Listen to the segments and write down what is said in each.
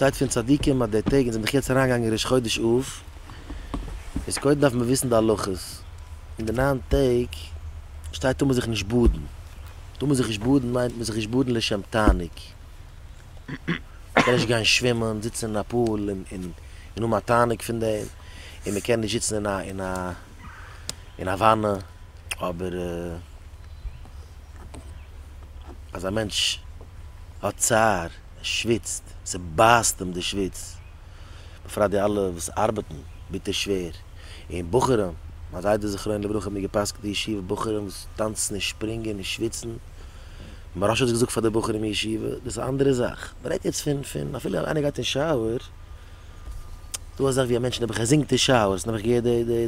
שטייט פון צדיקים אז די טעג און זעמער דאך יעצט אריין געגאנגען ראש חודש אב, איז קודם דארף מען וויסן די הלכות, אין די ניין טעג שטייט טאר מען זיך נישט באדן, טאר מען זיך נישט באדן מיינט מען זיך נישט באדן לשם תענוג, מען קען נישט גיין שווימען, זיצן אין א פול און און און האבן א תענוג פון דעם, און מען קען נישט זיצן אין א אין א אין א וואנע, אבער אז א מענטש האט צער. ער שוויצט, ס'בייסט אים די שוויץ, בפרט די אלע וואס ארבעטן ביטער שווער, און בחורים, מיין זיידע זכרונו לברכה האט מיר גע'פסק'ט די ישיבה בחורים וואס טאנצן און שפרינגען און שוויצן, מוהרא ש האט געזאגט פאר די בחורים אין ישיבה, דאס איז א אנדערע זאך, מ'רעדט יעצט פון פון אפילו איינער גייט אין שויער, דא אזאך ווי א מענטש נעבעך ער זינגט אין שויער, ס'איז נעבעך געהערט די די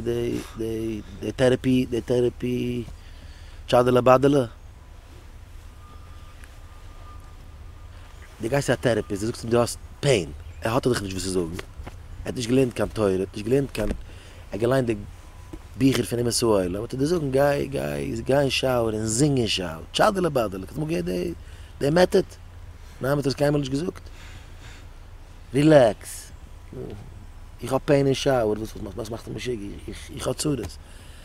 די די טערעפי די טערעפי טשאדעלע באדעלע. דו גייסט צו א טערעפיסט דו זאגסט אים דו האסט פעין ער האט דיך נישט וואס צו זאגן ער האט נישט געלערנט קיין תורה ער האט נישט געלערנט קיין ער האט געליינט די ביכער פון אומות העולם וועט ער דיר זאגן גיי גיי גיי אין שאוער און זינג אין שאוער טשאדעלע באדעלע האסט אמאל געהערט די די מעטאד? ניין מען האט עס קיינמאל נישט געזאגט רילעקס איך האב פעין אין שאוער וואס וואס מאכסטו מיך משוגע איך איך האב צרות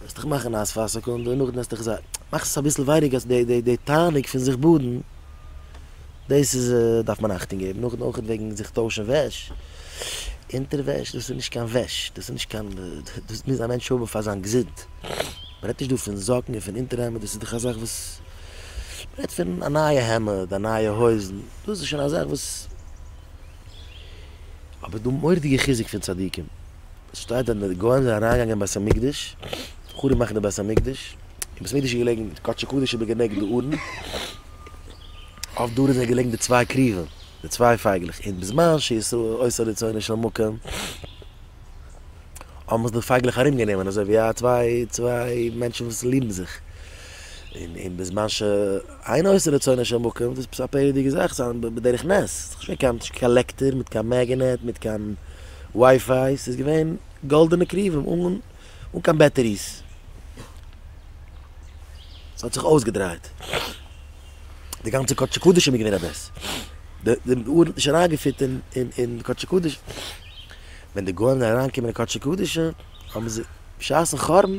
וועסט דיך מאכן נאס פאר א סעקונדע און נאכדעם וועסטו זיך מאכסט עס אביסל ווייניגער אז די די די תענוג פון זיך באדן דאס איז דארף מען אכטונג געבן נאכדעם אויך וועגן זיך טוישן וועש אונטערוועש דאס איז נישט קיין וועש דאס איז נישט קיין דאס מוז א מענטש האבן פאר זיין געזונט מען רעדט נישט דא פון זאקן און פון אונטערהעמד דאס איז דאך א זאך וואס מען רעדט פון א נייע העמד א נייע הויזן דאס איז שוין א זאך וואס אבער דא מורא'דיגע חיזוק פון צדיקים. שטייט אז די גוים זענען אריינגעגאנגען אין בית המקדש חרוב מאכן די בית המקדש, און בית המקדש איז געלעגן קדש הקודש איז בגענעגט די ארון, אויף די ארון זענען געלעגן די צוויי כרובים, די צוויי פייגלעך, און בזמן שישראל עשה רצונו של מקום האבן זיך די פייגלעך ארום גענומען אזוי ווי א צוויי צוויי מענטשן וואס ליבן זיך, און בזמן ש. אין עושה רצונו של מקום, דאס איז עפעס א פערדיגע זאך, עס איז בדרך נס, עס איז נישט געווען קיין קאלעקטער מיט קיין מעגענעט, מיט קיין ווייפיי, עס איז געווען גאלדענע קרובים אן קיין בעטעריס, עס האט זיך אויסגעדרייט, די גאנצע קודשי קדשים איז געווען א בעש ט, די אר ן האט נישט אריינגעפירט אין קודשי קדשים, ווען די גוים זענען אריינגעקומען אין קודשי קדשים האבן זיי בשעת'ן חורבן,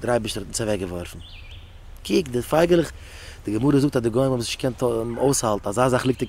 דער אייבערשטער האט אונז אוועקגעווארפן. קוק, די פייגעלעך, די גמרא זאגט אז די גוים האבן עס נישט געקענט אויסהאלטן, אזא זאך ליגט אין